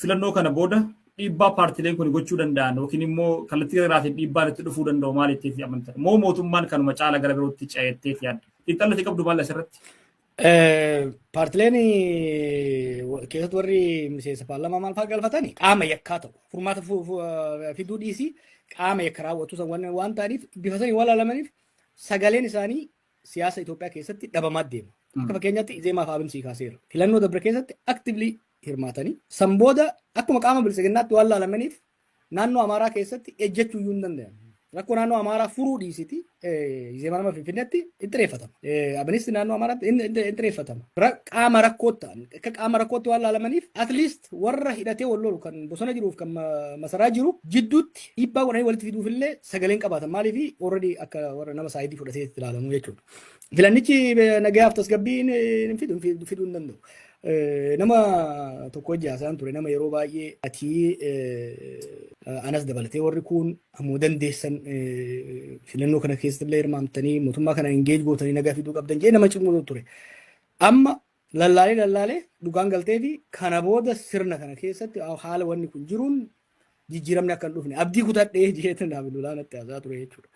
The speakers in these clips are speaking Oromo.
filannoo kana booda dhiibbaa paartileen kun gochuu danda'an yookiin immoo kallattii garaatiin dhiibbaan itti dhufuu danda'u maal itteetti amantan? Moo mootummaan kanuma caala gara birootti ce'etteef yaadda? Xiinxalli ati qabdu maal asirratti? Paartileen keessatti warri miseensa paarlamaa maal fa'aa galfatani qaama yakkaa ta'u furmaata fiduu dhiisii qaama yakka raawwatu waan ta'aniif bifa sanii waan laalamaniif sagaleen isaanii siyaasa Itoophiyaa keessatti dhabamaa deema. Akka fakkeenyaatti Izeemaa fi Abin sii kaaseera. Filannoo dabre keessatti aktiivlii hirmaatanii san booda akkuma qaama biltsiginnaatti waan laalamaniif naannoo Amaaraa keessatti ejjechuu iyyuu hin danda'an. Rakkoo naannoo Amaaraa furuu dhiisiti Izeemaa nama Finfinneetti hin xireeffatama. Abinisti naannoo Amaaraatti hin xireeffatama. Qaama rakkootti ta'an akka qaama rakkootti waan laalamaniif at least warra hidhatee wal lolu kan bosona jiruuf kan masaraa jiru jidduutti dhiibbaa godhanii walitti fiduuf illee sagaleen qabaatan maaliif already akka warra nama saayidii fudhatee itti ilaalamu jechuudha. Filannichi nagayaaf tasgabbii hin fidu hin danda'u. Eh, Nama tokko wajji haasa'an ture nama yeroo baay'ee ati eh, anas dabalatee warri kun ammoo dandeessan eh, filannoo kana keessatti illee hirmaamtanii mootummaa kana engage gootanii nagaa fiduu qabdan jedhee nama cimuu ture. Amma lallaalee lallaalee dhugaan galtee fi kana booda sirna kana keessatti haala wanni kun jiruun jijjiiramni akka hin dhufne abdii kutadhee jeetan Abdulaa natti haasaa ture jechuudha.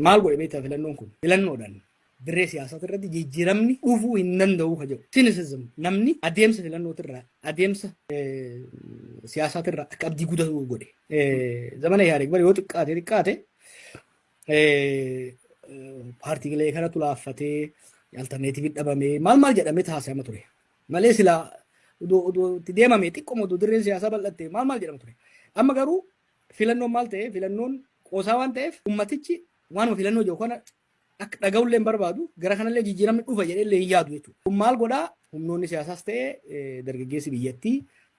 Maal godhe beektaa filannoon kun filannoodhaan dirree siyaasaa irratti jijjiiramni dhufuu hin danda'u ka jedhu. Sinisizim namni adeemsa filannootirraa adeemsa siyaasaatirraa akka abdii kutatu godhe. Zamana Ihaadeeg bara yoo xiqqaate xiqqaate paartiilee kanatu laaffatee alternatiivii dhabamee maal maal jedhamee taasifama ture. malee silaa udu udu itti deemame xiqqoma udu dirreen siyaasaa bal'atte maal maal jedhama ture. Amma garuu filannoon maal ta'e filannoon qoosaa waan ta'eef ummatichi waanuma filannoo jiru kana akka dhaga'ullee hin barbaadu gara kanallee jijjiiramni dhufa jedheellee hin yaadu jechuudha. Kun maal godhaa humnoonni siyaasaas ta'e dargaggeessi biyyattii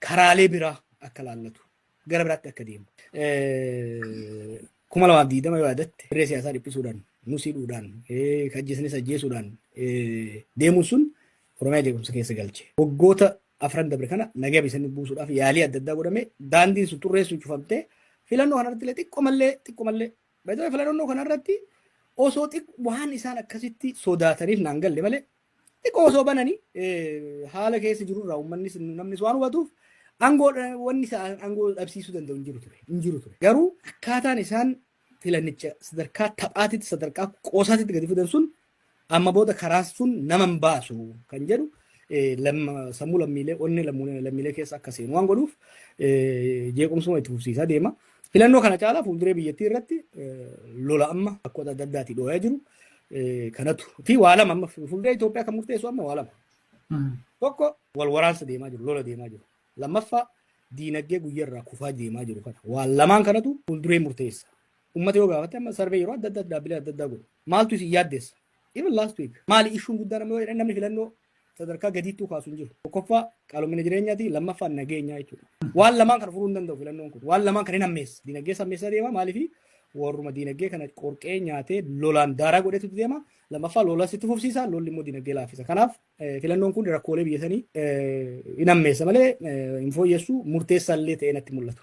karaalee biraa akka laallatu gara biraatti akka deemu. Kuma lamaaf diidama yoo yaadatte dirree siyaasaa dhiphisuudhaan nusiidhuudhaan kajjeesnis ajjeesuudhaan deemuun sun Oromiyaa jeequmsa keessa galche. Waggoota afran dabre kana nagaa biyyatti buusuudhaaf yaalii adda addaa godhame daandiin sun xurreessuun cufamtee filannoo kanarratti illee xiqqoo mallee xiqqoo mallee baay'ee filannoo kanarratti osoo waan isaan akkasitti sodaataniif naan galle malee Xiqqoo osoo bananii haala keessa jirurraa uummannis namnis waan hubatuuf aangoo wanni isaan aangoo dhabsiisuu danda'u hin jiru ture. Hin jiru ture. Garuu akkaataan isaan filannicha sadarkaa taphaatitti sadarkaa qoosaatitti gadi fidan sun amma booda karaa sun nama hin baasu kan jedhu sammuu lammiilee onnee lammiilee keessa akka seenu waan godhuuf jeequmsuma itti fufsiisaa deema. Filannoo kana caalaa fuulduree biyyattii irratti lola amma bakkoota adda addaatii dhooyaa jiru kanatu fi waa lama amma fuulduree Itoophiyaa kan murteessu amma waa lama. Tokko wal waraansa deemaa jiru lola deemaa jiru. Lammaffaa diinagdee guyyarraa kufaa deemaa jiru kana waan lamaan kanatu fuulduree murteessa. Uummata yoo gaafatte amma sarvee yeroo adda addaa dhaabbilee adda addaa godhu maaltu isin yaaddeessa? Even last week maali ishuun guddaan amma yoo jedhan namni filannoo sadarkaa gadiittuu kaasu hin jiru. Tokkoffaa qaalomina jireenyaati, lammaffaa nageenyaa jechuudha. Waan lamaan kana furuu hin danda'u filannoon kun. Waan lamaan kana hin hammeessa. Dinagdee hammeessaa deema maaliif warruma dinagdee kana qorqee nyaatee lolaan daaraa godhetu deema. Lammaffaa lolas itti fufsiisa, lolli immoo dinagdee laaffisa. Kanaaf filannoon kun rakkoolee biyya sanii hin hammeessa malee hin fooyyessu murteessaa illee ta'ee natti mul'atu.